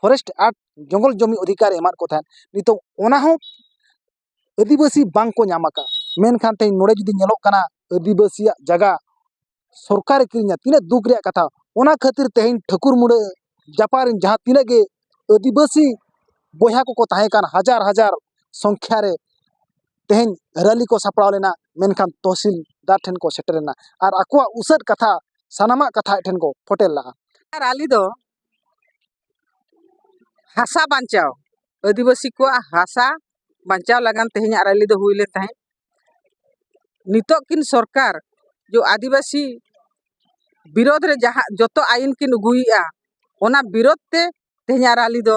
forest act ᱡᱚᱝᱜᱚᱞ ᱡᱚᱢᱤ ᱚᱫᱷᱤᱠᱟᱨ ᱮ ᱮᱢᱟᱫ ᱠᱚ ᱛᱟᱦᱮᱸᱫ ᱱᱤᱛᱚᱜ ᱚᱱᱟ ᱦᱚᱸ ᱟᱹᱫᱤᱵᱟᱹᱥᱤ ᱵᱟᱝ ᱠᱚ ᱧᱟᱢ ᱟᱠᱟᱫᱼᱟ ᱢᱮᱱᱠᱷᱟᱱ ᱛᱮᱦᱮᱧ ᱱᱚᱰᱮ ᱡᱩᱫᱤ ᱧᱮᱞᱚᱜ ᱠᱟᱱᱟ ᱟᱹᱫᱤᱵᱟᱹᱥᱤᱭᱟᱜ ᱡᱟᱭᱜᱟ ᱥᱚᱨᱠᱟᱨᱮ ᱠᱤᱨᱤᱧᱟ ᱛᱤᱱᱟᱹᱜ ᱫᱩᱠ ᱨᱮᱭᱟᱜ ᱠᱟᱛᱷᱟ ᱚᱱᱟ ᱠᱷᱟᱹᱛᱤᱨ ᱛᱮᱦᱮᱧ ᱴᱷᱟᱹᱠᱩᱨ ᱢᱩᱬᱟᱹ ᱡᱟᱯᱟᱜ ᱨᱮᱱ ᱡᱟᱦᱟᱸ ᱛᱤᱱᱟᱹᱜ ᱜᱮ ᱟᱹᱫᱤᱵᱟᱹᱥᱤ ᱵᱚᱭᱦᱟ ᱠᱚᱠᱚ ᱛᱟᱦᱮᱸ ᱠᱟᱱ ᱦᱟᱡᱟᱨ ᱦᱟᱡᱟᱨ ᱥᱚᱝᱠᱷᱟ ᱨᱮ ᱛᱮᱦᱮᱧ ᱨᱮᱞᱤ ᱠᱚ ᱥᱟᱯᱲᱟᱣ ᱞᱮᱱᱟ ᱢᱮᱱᱠᱷᱟᱱ ᱛᱚᱦᱥᱤᱞᱫᱟᱨ ᱴᱷᱮᱱ ᱠᱚ ᱥᱮᱴᱮᱨ ᱮᱱᱟ ᱟᱨ ᱟᱠᱚᱣᱟᱜ ᱩᱥᱟᱹᱫ ᱠᱟᱛᱷᱟ ᱥᱟᱱᱟᱢᱟᱜ ᱠᱟᱛᱷᱟ ᱟᱡ ᱴᱷᱮᱱ ᱠᱚ ᱯᱷᱚᱴᱮᱞ ᱞᱟᱜᱼᱟ ᱨᱟᱞᱤ ᱫᱚ ᱦᱟᱥᱟ ᱵᱟᱧᱪᱟᱣ ᱟᱹᱫᱤᱵᱟᱹᱥᱤ ᱠᱚᱣᱟᱜ ᱦᱟᱥᱟ ᱵᱟᱧᱪᱟᱣ ᱞᱟᱹᱜᱤᱫ ᱛᱮᱦᱮᱧᱟᱜ ᱨᱮᱞᱤ ᱫᱚ ᱦᱩᱭ ᱞᱮᱱ ᱛᱟᱦᱮᱸᱫ ᱱᱤᱛᱚᱜ ᱠᱤᱱ ᱥᱚᱨᱠᱟᱨ ᱡᱮ ᱟᱹᱫᱤᱵᱟᱹᱥᱤ ᱵᱤᱨᱳᱫ ᱨᱮ ᱡᱟᱦᱟᱸ ᱡᱚᱛᱚ ᱟᱭᱤᱱ ᱠᱤᱱ ᱟᱹᱜᱩᱭᱮᱫᱼᱟ ᱚᱱᱟ ᱵᱤᱨᱳᱫ ᱛᱮ ᱛᱮᱦᱮᱧᱟᱜ ᱨᱮᱞᱤ ᱫᱚ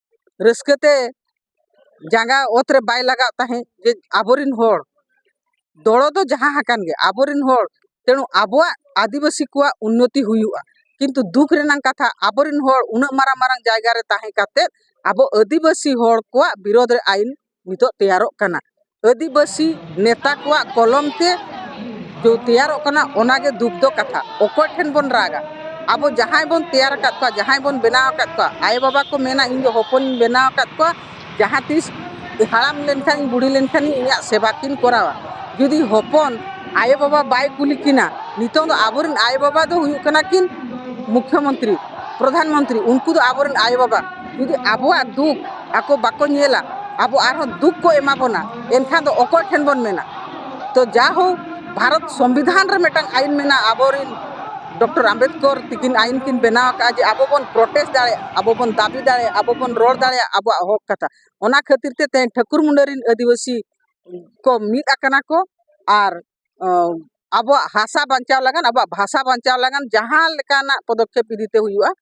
ᱨᱟᱹᱥᱠᱟᱹ ᱛᱮ ᱡᱟᱸᱜᱟ ᱚᱛ ᱨᱮ ᱵᱟᱭ ᱞᱟᱜᱟᱜ ᱛᱟᱦᱮᱸᱫ ᱡᱮ ᱟᱵᱚᱨᱮᱱ ᱦᱚᱲ ᱫᱚᱲᱚ ᱫᱚ ᱡᱟᱦᱟᱸ ᱟᱠᱟᱱ ᱜᱮ ᱟᱵᱚᱨᱮᱱ ᱦᱚᱲ ᱛᱮᱬᱩ ᱟᱵᱚᱣᱟᱜ ᱟᱹᱫᱤᱵᱟᱹᱥᱤ ᱠᱚᱣᱟᱜ ᱩᱱᱱᱚᱛᱤ ᱦᱩᱭᱩᱜᱼᱟ ᱠᱤᱱᱛᱩ ᱫᱩᱠ ᱨᱮᱱᱟᱜ ᱠᱟᱛᱷᱟ ᱟᱵᱚᱨᱮᱱ ᱦᱚᱲ ᱩᱱᱟᱹᱜ ᱢᱟᱨᱟᱝ ᱢᱟᱨᱟᱝ ᱡᱟᱭᱜᱟ ᱨᱮ ᱛᱟᱦᱮᱸ ᱠᱟᱛᱮᱫ ᱟᱵᱚ ᱟᱹᱫᱤᱵᱟᱹᱥᱤ ᱦᱚᱲ ᱠᱚᱣᱟᱜ ᱵᱤᱨᱳᱫᱷ ᱨᱮ ᱟᱹᱭᱤᱱ ᱱᱤᱛᱚᱜ ᱛᱮᱭᱟᱨᱚᱜ ᱠᱟᱱᱟ ᱟᱹᱫᱤᱵᱟᱹᱥᱤ ᱱᱮᱛᱟ ᱠᱚᱣᱟᱜ ᱠᱚᱞᱚᱢ ᱛᱮ ᱛᱮᱭᱟᱨᱚᱜ ᱠᱟᱱᱟ ᱚᱱᱟᱜᱮ ᱫᱩᱠ ᱫᱚ ᱠᱟᱛᱷᱟ ᱚᱠᱚᱭ ᱴᱷᱮᱱ ᱵᱚᱱ ᱨᱟᱜᱟ ᱟᱵᱚ ᱡᱟᱦᱟᱸᱭ ᱵᱚᱱ ᱛᱮᱭᱟᱨ ᱟᱠᱟᱫ ᱠᱚᱣᱟ ᱡᱟᱦᱟᱸᱭ ᱵᱚᱱ ᱵᱮᱱᱟᱣ ᱟᱠᱟᱫ ᱠᱚᱣᱟ ᱟᱭᱳ ᱵᱟᱵᱟ ᱠᱚ ᱢᱮᱱᱟ ᱤᱧ ᱫᱚ ᱦᱚᱯᱚᱱᱤᱧ ᱵᱮᱱᱟᱣ ᱟᱠᱟᱫ ᱠᱚᱣᱟ ᱡᱟᱦᱟᱸ ᱛᱤᱥ ᱦᱟᱲᱟᱢ ᱞᱮᱱᱠᱷᱟᱱ ᱵᱩᱲᱦᱤ ᱞᱮᱱᱠᱷᱟᱱ ᱤᱧᱟᱹᱜ ᱥᱮᱵᱟ ᱠᱤᱱ ᱠᱚᱨᱟᱣᱟ ᱡᱩᱫᱤ ᱦᱚᱯᱚᱱ ᱟᱭᱳ ᱵᱟᱵᱟ ᱵᱟᱭ ᱠᱩᱞᱤ ᱠᱤᱱᱟ ᱱᱤᱛᱚᱝ ᱫᱚ ᱟᱵᱚ ᱨᱮᱱ ᱟᱭᱳ ᱵᱟᱵᱟ ᱫᱚ ᱦᱩᱭᱩᱜ ᱠᱟᱱᱟ ᱠᱤᱱ ᱢᱩᱠᱠᱷᱚ ᱢᱚᱱᱛᱨᱤ ᱯᱨᱚᱫᱷᱟᱱ ᱢᱚᱱᱛᱨᱤ ᱩᱱᱠᱩ ᱫᱚ ᱟᱵᱚ ᱨᱮᱱ ᱟᱭᱳ ᱵᱟᱵᱟ ᱡᱩᱫᱤ ᱟᱵᱚᱣᱟᱜ ᱫᱩᱠ ᱟᱠᱚ ᱵᱟᱠᱚ ᱧᱮᱞᱟ ᱟᱵᱚ ᱟᱨᱦᱚᱸ ᱫᱩᱠ ᱠᱚ ᱮᱢᱟ ᱵᱚᱱᱟ ᱮᱱᱠᱷᱟᱱ ᱫᱚ ᱚᱠᱚᱭ ᱴᱷᱮᱱ ᱵᱚᱱ ᱢᱮᱱᱟ ᱛᱚ ᱡᱟ ᱦᱳᱠ ᱵᱷᱟᱨᱚᱛ ᱥᱚᱝᱵᱤᱫᱷᱟᱱ ᱨᱮ ᱢᱤᱫᱴᱟᱝ ᱟᱹᱭᱤᱱ ᱢᱮᱱᱟᱜᱼᱟ ᱟᱵᱚ ᱨᱮᱱ ᱰᱚᱠᱴᱚᱨ ᱟᱢᱵᱮᱫᱠᱚᱨ ᱛᱟᱹᱠᱤᱱ ᱟᱹᱭᱤᱱ ᱠᱤᱱ ᱵᱮᱱᱟᱣ ᱠᱟᱜᱼᱟ ᱡᱮ ᱟᱵᱚ ᱵᱚᱱ ᱯᱨᱚᱴᱮᱥᱴ ᱫᱟᱲᱮᱭᱟᱜᱼᱟ ᱟᱵᱚ ᱵᱚᱱ ᱫᱟᱹᱵᱤ ᱫᱟᱲᱮᱭᱟᱜᱼᱟ ᱟᱵᱚ ᱵᱚᱱ ᱨᱚᱲ ᱫᱟᱲᱮᱭᱟᱜᱼᱟ ᱟᱵᱚᱣᱟᱜ ᱦᱚᱸᱠ ᱠᱟᱛᱷᱟ ᱚᱱᱟ ᱠᱷᱟᱹᱛᱤᱨ ᱛᱮ ᱛᱮᱦᱮᱧ ᱴᱷᱟᱹᱠᱩᱨ ᱢᱩᱱᱰᱟᱹ ᱨᱮᱱ ᱟᱹᱫᱤᱵᱟᱹᱥᱤ ᱠᱚ ᱢᱤᱫ ᱟᱠᱟᱱᱟ ᱠᱚ ᱟᱨ ᱟᱵᱚᱣᱟᱜ ᱦᱟᱥᱟ ᱵᱟᱧᱪᱟᱣ ᱞᱟᱹᱜᱤᱫ ᱟᱵᱚᱣᱟᱜ ᱵᱷᱟᱥᱟ ᱵᱟᱧᱪᱟᱣ ᱞᱟᱹᱜᱤᱫ ᱡᱟᱦᱟᱸ ᱞᱮᱠᱟᱱᱟᱜ ᱯᱚᱫᱚᱠᱷᱮᱯ ᱤᱫᱤᱛᱮ ᱦᱩᱭᱩᱜᱼᱟ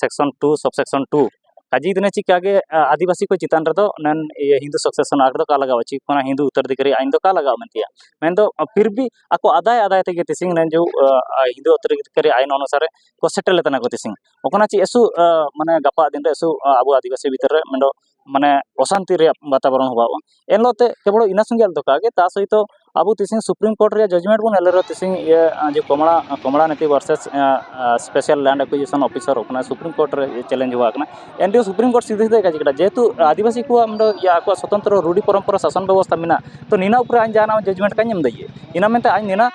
section two sub section two ᱠᱟᱡᱮ ᱫᱤᱱᱮ ᱪᱤᱠᱟ ᱜᱮ ᱟᱹᱫᱤᱵᱟᱹᱥᱤ ᱠᱚ ᱪᱮᱛᱟᱱ ᱨᱮᱫᱚ ᱱᱮᱱ ᱤᱭᱟᱹ ᱦᱤᱱᱫᱩ ᱥᱚᱵ ᱥᱮᱠᱥᱚᱱ ᱟᱴ ᱫᱚ ᱠᱟ ᱞᱟᱜᱟᱣᱟ ᱪᱤᱠ ᱠᱟᱱᱟ ᱦᱤᱱᱫᱩ ᱩᱛᱛᱚᱨ ᱫᱤᱠ ᱨᱮᱭᱟᱜ ᱟᱹᱭᱤᱱ ᱫᱚ ᱠᱟ ᱞᱟᱜᱟᱣᱟ ᱢᱮᱱᱛᱮᱭᱟ ᱢᱮᱱ ᱫᱚ ᱯᱷᱤᱨ ᱵᱷᱤ ᱟᱠᱚ ᱟᱫᱟᱭ ᱟᱫᱟᱭ ᱛᱮᱜᱮ ᱛᱤᱥᱤᱝ ᱱᱮᱱ ᱡᱚ ᱦᱤᱱᱫᱩ ᱩᱛᱛᱚᱨ ᱫᱤᱠ ᱨᱮᱭᱟᱜ ᱟᱹᱭᱤᱱ ᱚᱱᱩᱥᱟᱨᱮ ᱠᱚ ᱥᱮᱴᱮᱨ ᱞᱮᱫ ᱛᱟᱦᱮᱱᱟ ᱠᱚ ᱛᱤᱥᱤᱝ ᱚᱠᱟᱱᱟᱜ ᱪᱮᱫ ᱮᱥᱩ ᱢᱟᱱᱮ ᱜᱟᱯᱟ ᱫᱤᱱ ᱨᱮ ᱮᱥᱩ ᱟᱵᱚ ᱟᱹᱫᱤᱵᱟᱹᱥᱤ ᱵᱷᱤᱛᱤᱨ ᱨᱮ ᱢᱮᱱ ᱫᱚ ᱢᱟᱱᱮ ᱚᱥᱟᱱᱛᱤ ᱨᱮᱭᱟᱜ ᱵᱟᱛᱟᱵᱚᱨᱚᱱ ᱦᱚᱵᱚᱜᱼᱟ ᱮᱱ ᱦᱤᱞᱳᱜ ᱛᱮ ᱠᱮᱵᱚᱞ ᱤᱱᱟᱹ ᱥᱚᱸᱜᱮ ᱟᱞᱚ ᱫᱚᱨᱠᱟᱨ ᱜᱮ ᱛᱟ ᱥᱚᱦᱤᱛᱚ ᱟᱵᱚ ᱛᱤᱥᱤᱝ ᱥᱩᱯᱨᱤᱢ ᱠᱳᱨᱴ ᱨᱮᱭᱟᱜ ᱡᱟᱡᱽᱢᱮᱱᱴ ᱵᱚᱱ ᱧᱮᱞ ᱨᱮᱦᱚᱸ ᱛᱤᱥᱤᱝ ᱤᱭᱟᱹ ᱡᱮ ᱠᱚᱢᱚᱲᱟ ᱠᱚᱢᱚᱲᱟ ᱱᱤᱛᱤ versus special land acquisition officer of ᱠᱟᱱᱟᱭ ᱥᱩᱯᱨᱤᱢ ᱠᱳᱨᱴ ᱨᱮ ᱪᱮᱞᱮᱧᱡᱽ ᱦᱚᱵᱚᱜ ᱠᱟᱱᱟ ᱮᱱ ᱨᱮᱦᱚᱸ ᱥᱩᱯᱨᱤᱢ ᱠᱳᱨᱴ ᱥᱤᱫᱷᱟᱹ ᱥᱤᱫᱷᱟᱹ ᱠᱟᱡᱽ ᱠᱮᱫᱟᱭ ᱡᱮᱦᱮᱛᱩ ᱟᱹᱫᱤᱵᱟᱹᱥᱤ ᱠᱚᱣᱟᱜ ᱚᱸᱰᱮ ᱟᱠᱚᱣᱟᱜ ᱥᱚᱛᱚᱱᱛᱨᱚ ᱨᱩᱲᱤ ᱯᱚᱨᱚᱢᱯᱚᱨᱟ ᱥᱟᱥᱚᱱ ᱵᱮᱵᱚᱥᱛᱷᱟ ᱢᱮᱱᱟᱜᱼᱟ ᱛᱚ ᱱᱤᱱᱟᱹ ᱩᱯᱚᱨᱮ ᱟᱡ ᱡᱟᱦᱟᱱᱟᱜ ᱦᱚᱸ ᱡᱟᱡᱽᱢᱮᱱᱴ ᱠᱟᱡᱽ ᱮᱢ ᱫᱟᱲᱮᱭᱟᱜᱼᱟ ᱤᱱᱟᱹ ᱢᱮᱱᱛᱮ ᱟᱡ ᱱᱤᱱᱟᱹ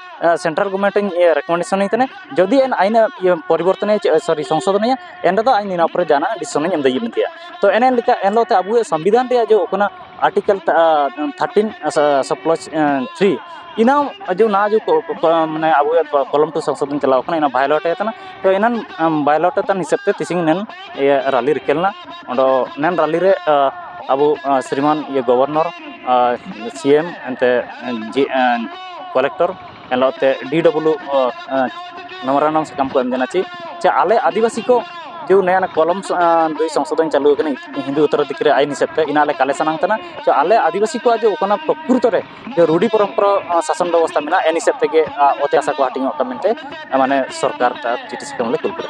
ᱥᱮᱱᱴᱨᱟᱞ ᱜᱚᱨᱢᱮᱱᱴ ᱤᱧ ᱨᱮᱠᱚᱢᱮᱱᱰᱮᱥᱚᱱ ᱟᱹᱧ ᱠᱟᱱᱟ ᱡᱩᱫᱤ ᱟᱹᱱ ᱟᱹᱭᱤᱱ ᱮ ᱯᱚᱨᱤᱵᱚᱨᱛᱚᱱᱟᱭᱟ ᱥᱚᱨᱤ ᱥᱚᱝᱥᱳᱫᱷᱚᱱᱟᱭᱟ ᱮᱱ ᱨᱮᱫᱚ ᱟᱡ ᱱᱚᱣᱟ ᱯᱚᱨᱮ ᱡᱟᱦᱟᱱᱟᱜ ᱰᱤᱥᱤᱥᱚᱱ ᱮᱢ ᱫᱟᱲᱮᱭᱟᱜ ᱜᱮᱭᱟ ᱛᱚ ᱮᱱᱮ ᱮᱱ ᱞᱮᱠᱟ ᱮᱱ ᱦᱤᱞᱳᱜ ᱛᱮ ᱟᱵᱚᱣᱟᱜ ᱥᱚᱝᱵᱤᱫᱷᱟᱱ ᱨᱮᱭᱟᱜ ᱡᱮ ᱚᱱᱟ ᱟᱨᱴᱤᱠᱮᱞ ᱛᱷᱟᱨᱴᱤᱱ ᱥᱚᱯᱞᱚᱥ ᱛᱷᱨᱤ ᱤᱱᱟᱹ ᱡᱮ ᱚᱱᱟ ᱡᱮ ᱢᱟᱱᱮ ᱟᱵᱚᱣᱟᱜ ᱠᱚᱞᱚᱢ ᱴᱩ ᱥᱚᱝᱥᱳᱫᱷᱚᱱ ᱪᱟᱞᱟᱣ ᱠᱟᱱᱟ ᱚᱱᱟ ᱵᱷᱟᱭᱳᱞᱮᱴ ᱟᱠᱟᱱᱟ ᱛᱚ ᱮᱱᱟᱱ ᱵᱷᱟᱭᱳᱞᱮᱴ ᱟᱠᱟᱱ ᱦᱤᱥᱟᱹᱵ ᱛᱮ ᱛᱤᱦᱤᱧ ᱮᱱᱟᱱ ᱤᱭᱟᱹ ᱨᱟᱹᱞᱤ ᱨᱤᱠᱟᱹ ᱞᱮᱱᱟ ᱟᱫᱚ ᱮᱱᱟᱱ ᱨᱟᱹᱞᱤ ᱨᱮ ᱟᱵᱚ ᱥᱨᱤᱢᱟᱱ ᱜᱚᱵᱷᱚᱨᱱᱚᱨ ᱥᱤ ᱮᱢ ᱮᱱᱛᱮᱫ ᱡᱮ ᱠᱟᱞᱮᱠᱴᱚᱨ ᱮᱱᱦᱤᱞᱳᱜ ᱛᱮ ᱰᱤ ᱰᱚᱵᱞᱩ ᱱᱚᱣᱟ ᱨᱮᱱᱟᱜ ᱥᱟᱠᱟᱢ ᱠᱚ ᱮᱢ ᱠᱟᱱᱟ ᱪᱮᱫ ᱪᱮ ᱟᱞᱮ ᱟᱹᱫᱤᱵᱟᱹᱥᱤ ᱠᱚ ᱡᱮ ᱱᱚᱣᱟ ᱨᱮᱱᱟᱜ ᱠᱚᱞᱚᱢ ᱡᱮ ᱥᱚᱝᱥᱳᱫᱷᱚᱱ ᱪᱟᱹᱞᱩ ᱠᱟᱱᱟ ᱦᱤᱱᱫᱩ ᱩᱛᱛᱚᱨ ᱫᱤᱠᱩ ᱨᱮ ᱟᱹᱭᱤᱱ ᱦᱤᱥᱟᱹᱵᱽ ᱛᱮ ᱚᱱᱟ ᱟᱞᱮ ᱠᱟᱞᱮᱠᱥᱮᱱ ᱟᱢ ᱠᱟᱱᱟ ᱛᱚ ᱟᱞᱮ ᱟᱹᱫᱤᱵᱟᱹᱥᱤ ᱠᱚᱣᱟᱜ ᱡᱮ ᱚᱱᱟ ᱯᱨᱚᱠᱨᱤᱛᱚ ᱨᱮ ᱡᱮ ᱨᱩᱰᱤ ᱯᱚᱨᱚᱢᱯᱚᱨᱟ ᱥᱟᱥᱚᱱ ᱵᱮᱵᱚᱥᱛᱷᱟ ᱢᱮᱱᱟᱜᱼᱟ ᱮᱱ ᱦᱤᱥᱟᱹᱵᱽ ᱛᱮᱜᱮ ᱚᱛ ᱦᱟᱥᱟ ᱠᱚ ᱦᱟᱹᱴᱤᱧᱚᱜ ᱠᱟᱱᱟ ᱢᱮᱱᱛᱮ ᱢᱟᱱᱮ ᱥᱚᱨᱠᱟᱨ ᱪᱤᱴᱷᱤ ᱥᱟᱠᱟᱢ ᱞᱮ ᱠᱩᱞ ᱠᱮᱫᱟ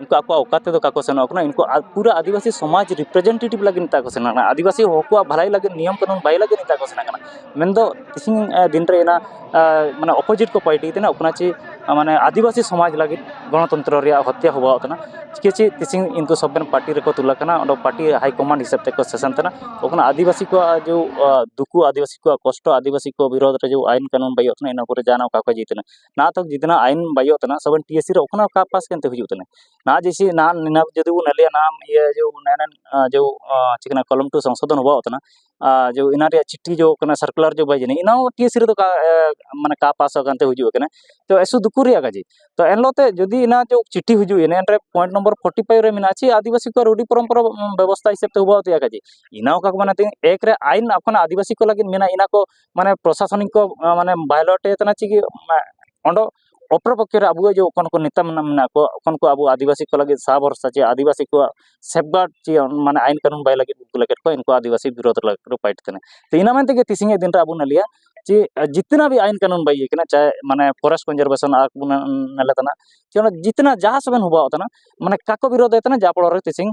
ᱩᱱᱠᱩ ᱟᱠᱚᱣᱟᱜ ᱚᱠᱟ ᱛᱮᱫᱚ ᱵᱟᱠᱚ ᱥᱮᱱᱚᱜ ᱠᱟᱱᱟ ᱩᱱᱠᱩ ᱯᱩᱨᱟᱹ ᱟᱹᱫᱤᱵᱟᱹᱥᱤ ᱥᱚᱢᱟᱡᱽ ᱨᱤᱯᱨᱮᱡᱮᱱᱴᱮᱴᱤᱵᱽ ᱞᱟᱹᱜᱤᱫ ᱱᱮᱛᱟᱨ ᱠᱚ ᱥᱮᱱᱚᱜ ᱠᱟᱱᱟ ᱟᱹᱫᱤᱵᱟᱹᱥᱤ ᱦᱚᱲ ᱠᱚᱣᱟᱜ ᱵᱷᱟᱹᱞᱟᱹᱭ ᱞᱟᱹᱜᱤᱫ ᱱᱤᱭᱚᱢ ᱠᱟᱹᱱᱩᱱ ᱵᱟᱭ ᱞᱟᱹᱜᱤᱫ ᱱᱮᱛᱟᱨ ᱠᱚ ᱥᱮᱱᱚᱜ ᱠᱟᱱᱟ ᱢᱮᱱᱫᱚ ᱛᱮᱦᱮᱧ ᱫᱤᱱ ᱨᱮ ᱚᱱᱟ ᱢᱟᱱᱮ ᱚᱯᱳᱡᱤᱴ ᱠᱚ ᱯᱟᱨᱴᱤ ᱠᱟᱱᱟ ᱚᱱᱟ ᱪᱮ ᱢᱟᱱᱮ ᱟᱹᱫᱤᱵᱟᱹᱥᱤ ᱥᱚᱢᱟᱡᱽ ᱞᱟᱹᱜᱤᱫ ᱜᱚᱱᱚᱛᱚᱱᱛᱨᱚ ᱨᱮᱭᱟᱜ ᱦᱚᱛᱛᱟ ᱦᱚᱦᱚᱣᱟᱜ ᱠᱟᱱᱟ ᱪᱤᱠᱟᱹ ᱪᱮ ᱛᱮᱦᱮᱧ ᱩᱱᱠᱩ ᱥᱚᱵᱨᱮᱱ ᱯᱟᱨᱴᱤ ᱨᱮᱠᱚ ᱛᱩᱞ ᱟᱠᱟᱱᱟ ᱚᱸᱰᱮ ᱯᱟᱨᱴᱤ ᱦᱟᱭ ᱠᱚᱢᱟᱱᱰ ᱦᱤᱥᱟᱹᱵ ᱛᱮᱠᱚ ᱥᱮᱥᱚᱱ ᱠᱟᱱᱟ ᱛᱚᱠᱷᱚᱱ ᱟᱹᱫᱤᱵᱟᱹᱥᱤ ᱠᱚᱣᱟᱜ ᱡᱮ ᱫᱩᱠᱷᱩ ᱟᱹᱫᱤᱵᱟᱹᱥᱤ ᱠᱚᱣᱟᱜ ᱠᱚᱥᱴᱚ ᱟᱹᱫᱤᱵᱟᱹᱥᱤ ᱠᱚᱣᱟᱜ ᱵᱤᱨᱳᱫᱷ ᱨᱮ ᱡᱮ ᱟᱹᱭᱤᱱ ᱠᱟᱹᱱᱩᱱ ᱵᱟᱹᱭᱤᱜ ᱠᱟᱱᱟ ᱤᱱᱟᱹ ᱠᱚᱨᱮ ᱡᱟᱦᱟᱱᱟᱜ ᱚᱠᱟ ᱠᱚ ᱡᱤᱛᱱᱟ ᱱᱟ ᱛᱚ ᱡᱤᱛᱱᱟ ᱟᱭᱤᱱ ᱵᱟᱭᱤ ᱦᱳᱛᱮ ᱱᱟ ᱥᱚᱵ ᱮᱱ ᱴᱤ ᱮᱥ ᱥᱤ ᱨᱮ ᱚᱯᱱᱟ ᱠᱟ ᱯᱟᱥ ᱠᱮᱱᱛᱮ ᱦᱩᱭᱩᱜ ᱛᱟᱞᱮ ᱱᱟ ᱡᱮᱥᱮ ᱱᱟ ᱱᱤᱱᱟ ᱡᱩᱫᱤ ᱵᱚᱱ ᱞᱟᱹᱭᱟ ᱱᱟ ᱤᱭᱟᱹ ᱡᱮ ᱱᱮ ᱱᱮ ᱡᱮ ᱪᱮᱫ ᱠᱚ ᱢᱮᱱᱟ ᱠᱚᱞᱚᱢ ᱴᱩ ᱥᱚᱝᱥᱳᱫᱷᱚᱱ ᱦᱩᱣᱟ ᱚᱛᱱᱟ ᱡᱮ ᱤᱱᱟ ᱨᱮᱭᱟᱜ ᱪᱤᱴᱷᱤ ᱡᱚ ᱠᱟᱱᱟ ᱥᱟᱨᱠᱩᱞᱟᱨ ᱡᱚ ᱵᱟᱭ ᱡᱟᱹᱱᱤ ᱤᱱᱟ ᱦᱚᱸ ᱴᱤ ᱮᱥ ᱥᱤ ᱨᱮᱫᱚ ᱠᱟ ᱢᱟᱱᱮ ᱠᱟ ᱯᱟᱥ ᱠᱟᱱᱛᱮ ᱦᱩᱭᱩᱜ ᱠᱟᱱᱟ ᱛᱚ ᱮᱥᱚ ᱫᱩᱠᱷᱚ ᱨᱮᱭᱟᱜ ᱠᱟᱡᱮ ᱛᱚ ᱮᱱ ᱦᱤᱞᱳᱜ ᱛᱮ ᱡᱩᱫᱤ ᱤᱱᱟ ᱡᱚ ᱪᱤᱴᱷᱤ ᱦᱤᱡᱩᱜ ᱤᱱᱟᱹ ᱨᱮ ᱯᱚᱭᱮᱱᱴ ᱱᱚᱢᱵᱚᱨ ᱯᱷᱳᱴᱤ ᱯᱷᱟᱭᱤᱵᱷ ᱨᱮ ᱢᱮᱱᱟᱜᱼᱟ ᱪᱮᱫ ᱟᱹᱫᱤᱵᱟᱹᱥᱤ ᱠᱚᱣᱟᱜ ᱨᱩᱰᱷᱤ ᱯᱚᱨᱚᱢᱯᱚᱨᱟ ᱵᱮᱵᱚᱥᱛᱟ ᱦᱤᱥᱟᱹᱵ ᱛᱮ ᱦᱩᱣᱟ ᱚᱛᱮᱭᱟ ᱠᱟᱡᱮ ᱤᱱᱟ ᱦᱚᱸ ᱠᱟᱠᱚ ᱢᱟᱱᱮ ᱛᱮ ᱮᱠ ᱨᱮ ᱟᱭᱤᱱ ᱟᱯᱱᱟ ᱟᱹᱫᱤᱵᱟᱹᱥᱤ ᱠᱚ ᱞᱟᱹᱜᱤᱫ ᱢᱮᱱᱟᱜᱼᱟ ᱤᱱᱟ ᱠᱚ ᱢᱟᱱᱮ ᱯᱨᱚᱥᱟᱥᱚᱱᱤᱠ ᱠᱚ ᱢᱟᱱᱮ ᱵᱟᱭᱞᱚᱴ ᱮ ᱠᱟᱱᱟ ᱪᱤᱠᱟᱹ ᱚᱰᱚᱜ ᱚᱯᱚᱨ ᱯᱚᱠᱠᱷᱮ ᱨᱮ ᱟᱵᱚᱣᱟᱜ ᱡᱮ ᱚᱠᱚᱭ ᱠᱚ ᱱᱮᱛᱟ ᱢᱮᱱᱟᱜ ᱠᱚᱣᱟ ᱚᱠᱚᱭ ᱠᱚ ᱟᱵᱚ ᱟᱹᱫᱤᱵᱟᱹᱥᱤ ᱠᱚ ᱞᱟᱹᱜᱤᱫ ᱥᱟᱦᱟ ᱵᱷᱚᱨᱥᱟ ᱪᱮ ᱟᱹᱫᱤᱵᱟᱹᱥᱤ ᱠᱚᱣᱟᱜ ᱥᱮᱯᱷ ᱜᱟᱨᱰ ᱪᱮ ᱢᱟᱱᱮ ᱟᱹᱭᱤᱱ ᱠᱟᱹᱱᱩᱱ ᱵᱟᱭ ᱞᱟᱹᱜᱤᱫ ᱩᱱᱠᱩ ᱞᱟᱹᱜᱤᱫ ᱠᱚ ᱩᱱᱠᱩ ᱟᱹᱫᱤᱵᱟᱹᱥᱤ ᱵᱤᱨᱳᱫᱷ ᱞᱟᱹᱜᱤᱫ ᱠᱚ ᱯᱷᱟᱭᱤᱴ ᱠᱟᱱᱟ ᱛᱚ ᱤᱱᱟᱹ ᱢᱮᱱ ᱛᱮᱜᱮ ᱛᱮᱦᱮᱧ ᱫᱤᱱ ᱨᱮ ᱟᱵᱚ ᱵᱚᱱ ᱞᱟᱹᱭᱟ ᱡᱮ ᱡᱤᱛᱱᱟ ᱵᱷᱤ ᱟᱹᱭᱤᱱ ᱠᱟᱹᱱᱩᱱ ᱵᱟᱭ ᱤᱭᱟᱹ ᱠᱟᱱᱟ ᱪᱟᱦᱮ ᱢᱟᱱᱮ ᱯᱷᱚᱨᱮᱥᱴ ᱠᱚᱱᱡᱟᱨᱵᱷᱮᱥᱚᱱ ᱟᱨ ᱢᱟᱱᱮ ᱞᱮᱠᱟᱱᱟᱜ ᱡᱤᱛᱱᱟ ᱡᱟᱦᱟᱸ ᱥᱮᱫ ᱵᱚᱱ ᱦᱚᱦᱚᱣᱟᱜ ᱠᱟᱱᱟ ᱢᱟᱱᱮ ᱠᱟᱠᱚ ᱵᱤᱨᱳᱫᱷᱮ ᱠᱟᱱᱟ ᱡᱟ ᱯᱷᱚᱞᱚᱨᱮ ᱛᱮᱦᱮᱧ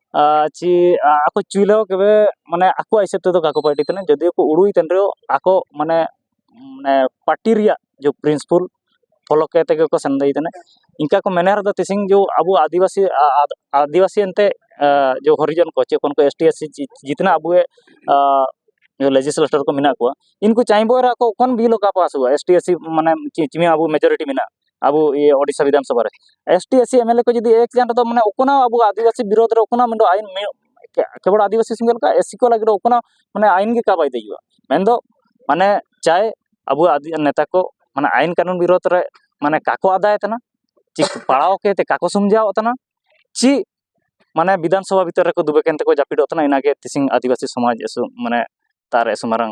ᱟᱨ ᱪᱮ ᱟᱠᱚ ᱪᱤᱞᱤ ᱦᱚᱸ ᱛᱚᱵᱮ ᱢᱟᱱᱮ ᱟᱠᱚᱣᱟᱜ ᱦᱤᱥᱟᱹᱵ ᱛᱮᱫᱚ ᱵᱟᱠᱚ ᱯᱟᱞᱴᱤᱜ ᱠᱟᱱᱟ ᱡᱩᱫᱤ ᱠᱚ ᱩᱲᱩᱭ ᱠᱟᱱ ᱨᱮᱦᱚᱸ ᱟᱠᱚ ᱢᱟᱱᱮ ᱢᱟᱱᱮ ᱯᱟᱴᱤ ᱨᱮᱭᱟᱜ ᱡᱮ ᱯᱨᱤᱱᱥᱤᱯᱟᱞ ᱯᱷᱳᱞᱳ ᱠᱟᱛᱮᱫ ᱜᱮᱠᱚ ᱥᱮᱱ ᱤᱫᱤᱭ ᱠᱟᱱᱟ ᱤᱱᱠᱟᱹ ᱠᱚ ᱢᱮᱱᱮᱫ ᱨᱮᱫᱚ ᱛᱮᱦᱮᱧ ᱡᱮ ᱟᱵᱚ ᱟᱹᱫᱤᱵᱟᱹᱥᱤ ᱟᱹᱫᱤᱵᱟᱹᱥᱤ ᱮᱱᱛᱮᱫ ᱡᱮ ᱦᱚᱨᱤᱡᱚᱱ ᱠᱚ ᱪᱮᱫ ᱠᱚ ᱮᱥ ᱴᱤ ᱮᱥ ᱥᱤ ᱡᱤᱛᱱᱟ ᱟᱵᱚ ᱮ ᱞᱮᱡᱤᱥᱞᱮᱴᱟᱨ ᱠᱚ ᱢᱮᱱᱟᱜ ᱠᱚᱣᱟ ᱤᱱᱠᱩ ᱪᱟᱭᱵᱟ ᱨᱮ ᱟᱠᱚ ᱠᱚᱱ ᱵᱤᱞ ᱚᱠᱟ ᱯᱟᱥᱚᱜᱼᱟ ᱮᱥ ᱴᱤ ᱮᱥ ᱥᱤ ᱢᱟᱱᱮ ᱪᱮᱫ ᱪᱮᱫ ᱟᱵᱚ ᱢᱮᱡᱚᱨᱤᱴᱤ ᱢᱮᱱᱟᱜᱼᱟ ᱟᱵᱚ ᱤᱭᱟᱹ ᱳᱰᱤᱥᱟ ᱵᱤᱫᱷᱟᱱ ᱥᱚᱵᱷᱟ ᱨᱮ S T S C MLA ᱠᱚ ᱡᱩᱫᱤ ᱮᱠ ᱡᱟᱱ ᱨᱮᱫᱚ ᱢᱟᱱᱮ ᱚᱠᱚᱱᱟ ᱟᱵᱚ ᱟᱹᱫᱤᱵᱟᱹᱥᱤ ᱵᱤᱨᱳᱫᱷ ᱨᱮ ᱚᱠᱚᱱᱟ ᱢᱮᱱᱫᱚ ᱟᱭᱤᱱ ᱠᱮᱵᱚᱞ ᱟᱹᱫᱤᱵᱟᱹᱥᱤ ᱥᱚᱸᱜᱮ ᱞᱮᱠᱟ ᱮᱥ ᱥᱤ ᱠᱚ ᱞᱟᱹᱜᱤᱫ ᱚᱠᱚᱱᱟ ᱢᱟᱱᱮ ᱟᱭᱤᱱ ᱜᱮ ᱠᱟᱵᱟᱭ ᱫᱮᱡᱩᱜᱼᱟ ᱢᱮᱱᱫᱚ ᱢᱟᱱᱮ ᱪᱟᱭ ᱟᱵᱚ ᱱᱮᱛᱟ ᱠᱚ ᱢᱟᱱᱮ ᱟᱭᱤᱱ ᱠᱟᱹᱱᱩᱱ ᱵᱤᱨᱳᱫᱷ ᱨᱮ ᱢᱟᱱᱮ ᱠᱟᱠᱚ ᱟᱫᱟᱭ ᱛᱟᱱᱟ ᱪᱤ ᱯᱟᱲᱟᱣ ᱠᱮᱛᱮ ᱠᱟᱠᱚ ᱥᱚᱢᱡᱟᱣ ᱛᱟᱱᱟ ᱪᱤ ᱢᱟᱱᱮ ᱵᱤᱫᱷᱟᱱ ᱥᱚᱵᱷᱟ ᱵᱷᱤᱛᱚᱨ ᱨᱮᱠᱚ ᱫᱩᱵᱮ ᱠᱮᱱ ᱛᱮᱠᱚ ᱡᱟᱹᱯᱤᱫᱚᱜ ᱛᱟᱱᱟ ᱤᱱᱟᱜᱮ ᱛᱤᱥᱤᱝ ᱟᱹᱫᱤᱵᱟᱹᱥᱤ ᱥᱚᱢᱟᱡᱽ ᱢᱟᱱᱮ ᱛᱟᱨ ᱮᱥᱩᱢᱟᱨᱟᱝ